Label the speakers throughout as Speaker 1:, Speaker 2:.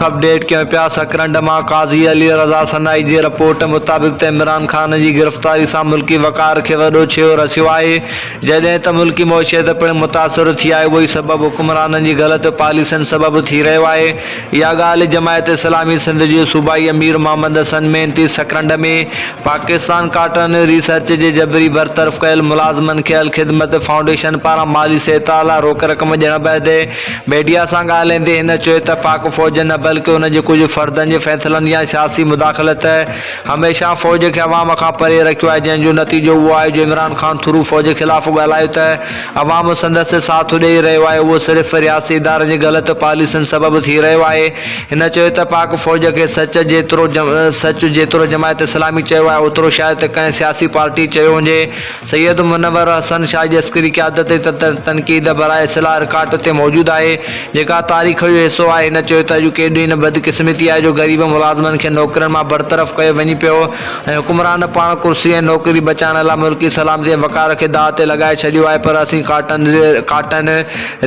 Speaker 1: Up date ڪيون پيا سڪرنڊ مان قاضي علي رضا سنائي جي رپورٽ مطابق ته عمران خان جي گرفتاري سان ملڪي وقار کي وڏو ڇيهو رسيو آهي جڏهن ته ملڪي معشيت پڻ متاثر ٿي آهي اهوئي سبب حڪمرانن جي غلط پاليسين سبب ٿي رهيو آهي اها ڳالهه جماعت اسلامي سنڌ جي صوبائي امير محمد حسن مينتي سڪرنڊ ۾ پاڪستان ڪاٽن ريسرچ جي جبري برطرف ڪيل ملازمن کي الخدمت فائونڊيشن پاران مالي سهتا لاء روڪ رقم ڏيڻ بعد ميڊيا سان ڳالهائيندي هن چيو ته پاڪ فوج نه بلڪه ان جي ڪجهه فردن جي فيصلن يا سياسي مداخلت هميشه فوج کي عوام کان پري رکيو آهي جنهن جو نتيجو اهو آهي جو عمران خان ٿرو فوج خلاف ڳالهايو ته عوام سندس ساٿ ڏئي رهيو آهي اهو صرف رياستي ادارن جي غلط پاليسين سبب ٿي رهيو آهي هن چيو ته پاڪ فوج کي سچ جيترو سچ جيترو جماعت اسلامي چيو آهي اوترو شايد ته ڪنهن سياسي پارٽي چيو هجي سيد منور حسن شاهه جسڪري قيادت تي ته تنقيد برائي اصلاح رڪارڊ اتي موجود آهي، جيڪا تاريخ جو حصو آهي. هن چيو ته اڄ ڪيڏي نه بدقسمتي آهي جو غريب ملازمن کي نوڪرين مان برطرف ڪيو وڃي پيو ۽ حڪمران پاڻ ڪرسي ۽ نوڪري بچائڻ لاء ملڪي سلامتي ۽ وقار کي داء تي لڳائي ڇڏيو آهي پر اسين ڪاٽن ڪاٽن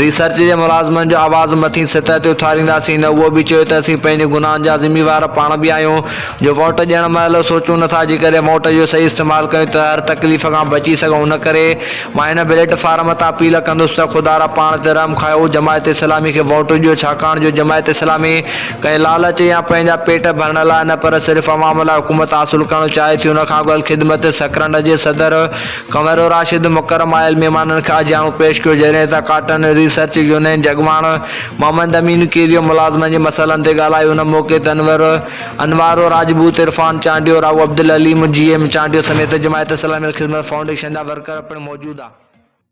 Speaker 1: ريسرچ جي ملازمن جو آواز مٿين سطح تي اٿارينداسين. هن اهو به چيو ته اسين پنهنجي گناهن جا ذميوار پاڻ به آهيون، جو ووٽ ڏيڻ مهل سوچون نه ٿا جيڪڏهن ووٽ جو صحيح استعمال ڪيون ته هر تڪليف کان بچي سگهون ان ڪري مان هن بليٽ فارم تان اپيل ڪندس ته خدا را پاڻ تي رحم کائو جماعت اسلامي کي ووٽ ڏيو ڇاڪاڻ جو جماعت اسلامي ڪنهن لالچ يا پنهنجا پيٽ ڀرڻ لاء نه پر صرف عوام لاء حڪومت حاصل ڪرڻ چاهي ٿي ان کان اڳل خدمت سڪرنڊ جي صدر ڪنور راشد مڪرم آيل مهمانن کي آجياڻو پيش ڪيو جڏهن ته ڪاٽن ريسرچ يونين جي اڳواڻ محمد امين ڪيريو ملازمن جي مسئلن تي ڳالهايو ان موقعي تي انور انوارو راجپوت، عرفان چانڊيو، راهو عبدالعليم، جي ايم چانڊيو سميت جماعت اسلامي الخدمت فائونڊيشن جا ورڪر پڻ موجود ھئا.